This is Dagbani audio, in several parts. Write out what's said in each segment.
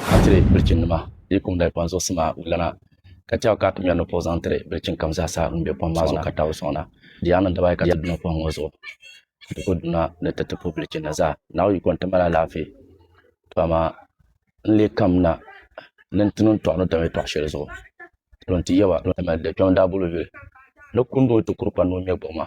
ka tiri bilichini nima di yi kum dali kpam zuɣusi maa bi lana ka tɛha ka ti mɛri ni puɣi zaŋ tiri bilichini kam zaa sa ŋun bɛ kpam maa zuɣu ka tabi sɔŋ na di yaa niŋ daba ayi ka ti duna kpam ŋɔ zuɣu ka ti ku duna ni ti ti puhi bilichini na zaa naawuni yiko nti mali alaafee to amaa n lee kam na ni nti niŋ tɔɣu ni dam ya tɔɣu shɛli zuɣu to nti yaba n ti mali di kpɛm daa bolo yuli ni kundi o ti kuri kpani ni o ŋmɛ gbuɣima.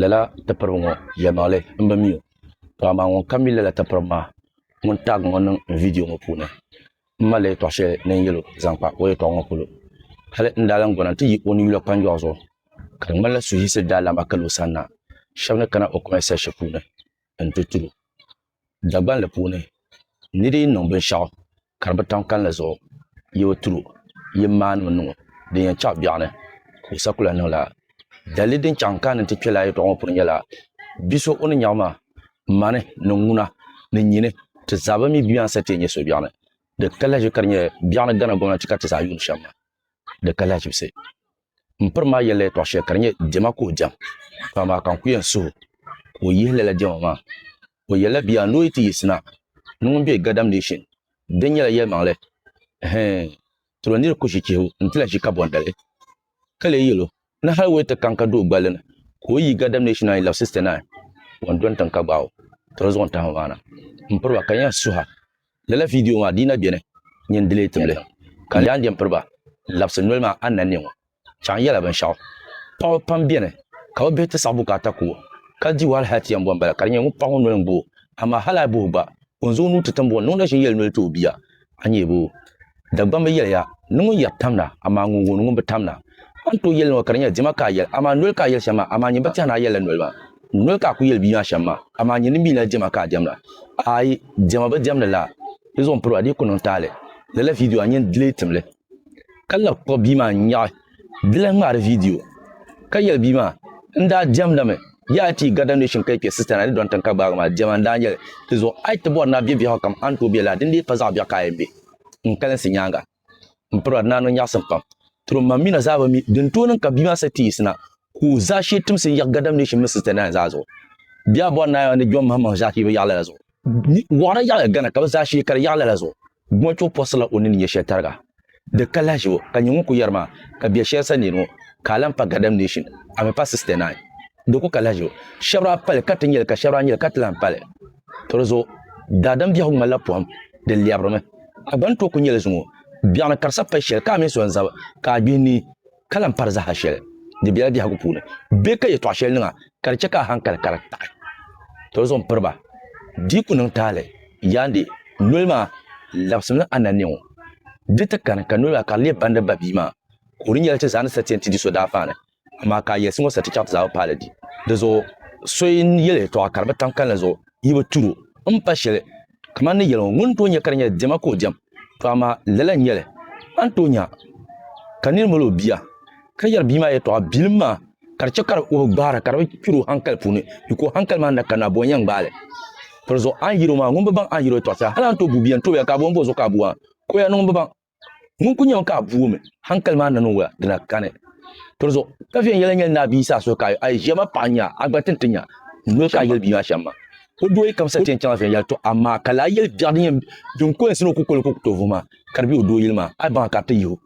lala tipiriba ŋɔ yɛlimaŋli m-bi mi o, to amaa ŋun ka mi lala tipiriba maa ŋun taag ŋɔ niŋ n vidiyo ŋɔ puuni, m mali la yɛtɔɣ shɛli din yɛl o zaŋ kpa o yɛtɔɣ ŋɔ polo. Hal n daa lan gɔna nti yi o ni yula kpanjɔɣu zuɣu, ka di ŋmanila suhuyisi daa lan ba kali o sani na, shɛb ni kana o kɔɛnsɛt puuni nti tur o. Dagbanli puuni, ni di yi niŋ binshɛɣu ka di bi tam kalinli zuɣu, yi bi tiri o, yi maanimi niŋ o din yɛn chaɣ biɛɣuni. Kusa kula niŋla dalili din chaɣ n-kaani nti kpe lala yɛtɔɣa ŋɔ puuni nyɛla, Bi so o ni nyaɣ maa, mani ni ŋuna ni nyini ti zaa bɛn mi bia maa n-sa teei nyɛ suhubiɛɣuni. Di ka lahiʒibu ka di nyɛ biɛɣuni Ghana gomnanti ka ti zaa yuuni shɛm maa. Di ka lahiʒibisi. M piri maa yɛlila yɛtɔɣ shɛli ka di nyɛ diɛma ka o diɛm, ka amaa ka n ku yɛn suhu ka o yihi lala diɛma maa. O yɛlila, Bia a ni o yi ti yiɣisina ni ŋun be Gadam Nation din nyɛla yɛlimaŋli hɛɛn tiro nir ku ʒi chihibu nti lahi ʒi kabɔndali, ka lee yɛl o ni hal o yi ti kaŋ ka do o gballi ni ka o yi Gadam Nation ayi lab 69 o ni dɔni tiŋ ka gbaai o tiro zuɣu n-tahim o maa na. M piri ba ka n yɛn suha. Lala vidiyo maa dii na beni n-nyɛ n dileei tibili ka n daa n-jen piri ba labisi noli maa ananne ŋɔ. Chaŋ yɛla binshɛɣu. Paɣaba pam beni ka bɛ bihi ti saɣi bukaata ku o. Kali dibu hali Hatia m-bɔ m-bala ka di nyɛ ŋun paɣa ŋɔ noli n-gbo o. Amaa hali a yi bohi o gba, o ni zaŋ o nuu ti tiŋbuɣu ni o na ʒin yɛli noli ti o bia, a nyɛbu. Dagbamba bi yɛliya ni ŋun yɛri tamna, amaa ŋun wuhi ni ŋun bi tamna. A ni tooi yɛli niriba ka di nyɛla dima ka a yɛli, amaa noli ka a yɛli shɛm maa, amaa nyin ba tɛha ni a yɛlila noli maa. Noli ka a kul yɛli bia maa shɛm maa, amaa nyin di mi lala diɛma ka a diɛmda. Aai, diɛma bi diɛmdi laa, di zuɣu m piri ba di yi ku niŋ taali. Lala vidiyo a ni yɛn lee tim li, ka lahi kpuɣi bia maa n-nyaɣi. Di lahi ŋmaari viidiyo ka yɛli bia maa, N daa diɛmda mi. Yaa a ti yi garita nooshin ka yi kpe sitana ni dɔŋ tiŋ ka gbaagi maa diɛma n daa nyɛli. Di zuɣu a yi ti bɔri ni a be biɛhigu kam a ni tooi be lala, dindee pa zaɣ biɛɣu ka a yɛn be n kalinsi nyaaŋa. M pirɔra ni a niŋ nyaɣisim pam. Tiriom mam mi na zaa bi mi din tooi niŋ ka bia maa sali ti yiɣisi na. ku zaashee timsi n-yiɣi Gadam Nation mini Sister Nine zaa zuɣu. Bɛ yaa bɔri Naya ni John Mahamahi zaa ka yi bi yaɣi lala zuɣu. Wɔɣina yaɣiya Ghana ka bɛ zaashee ka di yaɣi lala zuɣu. Gumachuɣu pɔsirila o ni ni nyɛ shɛli tariga. Di ka lahiʒi o ka nyɛ ŋun ku yɛri maa ka bɛ shɛli sa neeni o ka a lan pa Gadam Nation ami pa Sister Nine. Di ku ka lahiʒi o. Shɛb daa pali ka ti nya li ka shɛb daa nya li ka ti lan pali. To di zuɣu, daadam biɛhigu ŋmanila pɔhim, di lɛbirimi. A gba ni tooi ku nya li zuŋɔ. Biɛɣuni ka di sa pali shɛli ka a mini so n-zab ka a gbihi nii. ka lan pari zaha shɛli di bela biɛhigu puuni bee ka yɛtɔɣ shɛli niŋ a ka di chɛ ka a hankali ka di taɣi toli zuɣu m-piri ba. Di ku niŋ taali yaandi noli maa labisimi ni a nanne ŋɔ. Di ti kani ka noli maa ka di leei bandi ba bia maa ka o di nyɛla ti zaa ni sa ti yɛn ti di so daafaani, amaa ka a yɛlisi ŋɔ sa ti chaɣ ti zaa bi paali di. Di zuɣu so yi yɛli yɛtɔɣa ka di bi tam kalinli zuɣu, yi bi tur o m-pa shɛli Kamani ni yɛli ŋɔ, ŋun tooi nya ka di nyɛla diɛma ka o diɛm, tɔ amaa lala n-nyɛ li. A ni tooi nya ka nir mali o bia, ka yɛri bia maa yɛtɔɣa bilim maa, ka di chɛ ka o bi gbahira, ka di bi kpir o haŋkali puuni, mi ka o haŋkali maa ni na kanna abɔɔ n-yɛn gbaai li. Tɔli zuɣu a ni yɛri o maa, ŋun bi baŋ a ni yɛri o yɛtɔɣa sa, hal a ni tooi bu bia n-tobiya ka abɔɔ m-bo zuɣu ka a bu a, ka o yaa ni ŋun bi baŋ. Ŋun ku nyɛmi ka a vuumi, haŋkali maa nani n-wuhi a, di na kani. Tɔrizuɣu, ka viɛnyɛla yɛn yɛli ni a bia Yisaa suhu ka a yi ʒiya ma paɣa nya, a gba tin ti nya. Noli ka a yɛli bia maa shɛm ma. O doo yi kamsa ti yɛn chaŋla viɛnyɛla tɔ, amaa ka lahi yɛli biɛɣu din yɛn din ko yinsi ni o ku koli ka o ku tooi vuhi maa, ka di be o doo yili maa, a yi baŋ a ka di ti yihi o.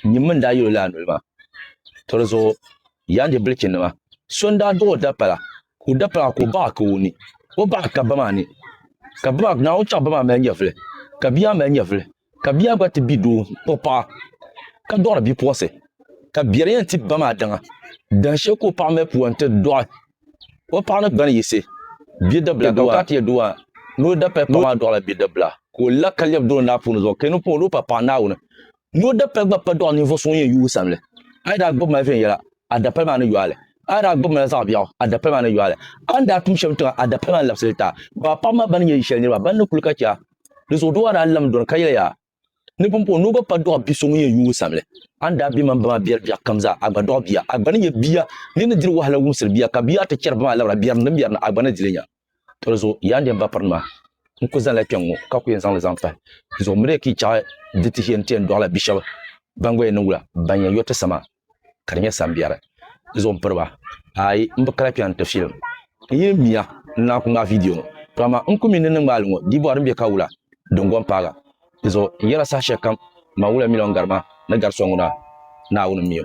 Nyimmi n-daa yɛl o lala noli maa. Tɔrizuɣu, yaanjɛ bilichinima, so n-daa duɣ o dapala, ka o dapala maa ka o baɣ a ka o ni o baɣ a ka ba maa ni. Ka ba maa, Naawuni chaŋ ba maa mali nyɛvili, ka bia maa mali nyɛvili, Ka bia gba ti bi doo o paɣa ka dɔɣiri bipuɣisi, ka biɛri yɛn ti ba maa daŋa, dahin shɛli ka o paɣa mali pua nti dɔɣi o paɣa ni gbani yiɣisi biɛdabila doo a. Ni o dapali paɣa maa dɔɣila biɛdabila, ka o la ka lɛbi dɔɣi naapuni zuɣu, ka yi ni pun o ni o pa paɣa Naawuni. Ni o dapali gba pa dɔɣi ninvuɣ so ŋun yɛn yuui samli. A yi daa gbibi mali viɛnyɛla, a dapali maa ni yo a li. A yi daa gbibi mali zaɣ biɛɣu, a dapali maa ni yo a li. A ni daa tum shɛm tiŋa, a dapali maa ni labisi li ti a. Baa paɣiba maa bɛn ni nyɛ yi shɛli niriba, bɛn ni kuli ka chɛ a, Di zuɣu doo a daa lamdi o ni ka yɛli yaa, ni pumpɔŋɔ ni o gba pa dɔɣi bi so ŋun yɛn yuui o sani li. A ni daa be mani ba maa biɛri biɛɣu kam zaa, a gba dɔɣi bia. A gba ni nyɛ bia din ni diri wahala wumsiri bia, ka bia ti chɛri ba maa labira biɛri ni din biɛri na, a gba ni di li nya. Tɔ di zuɣu yaa n deem bapirinima, n ku zanila kpɛŋŋo ka ku yɛn zaŋ li zaŋ pahi. Di zuɣu n mi di ka yi chaɣi di tihi yɛn ti yɛn dɔɣila bi shɛba ban gba yɛn niŋ wula, ban yɛn yo ti sa maa. ka di nyɛ sambiɛri zuɣu m piri ba ayi m bi kali kpɛri n ti filim n yi ni miya n lahi kuli ŋmaai viidiyo ŋɔ to amaa n kuli mi ni niŋ ŋmaali ŋɔ dii bɔri din be ka wula din gom paaga di zuɣu n yɛla saha shɛli kam man wula miliɔn gari ma ni gari so ŋuna Naawuni m mi o.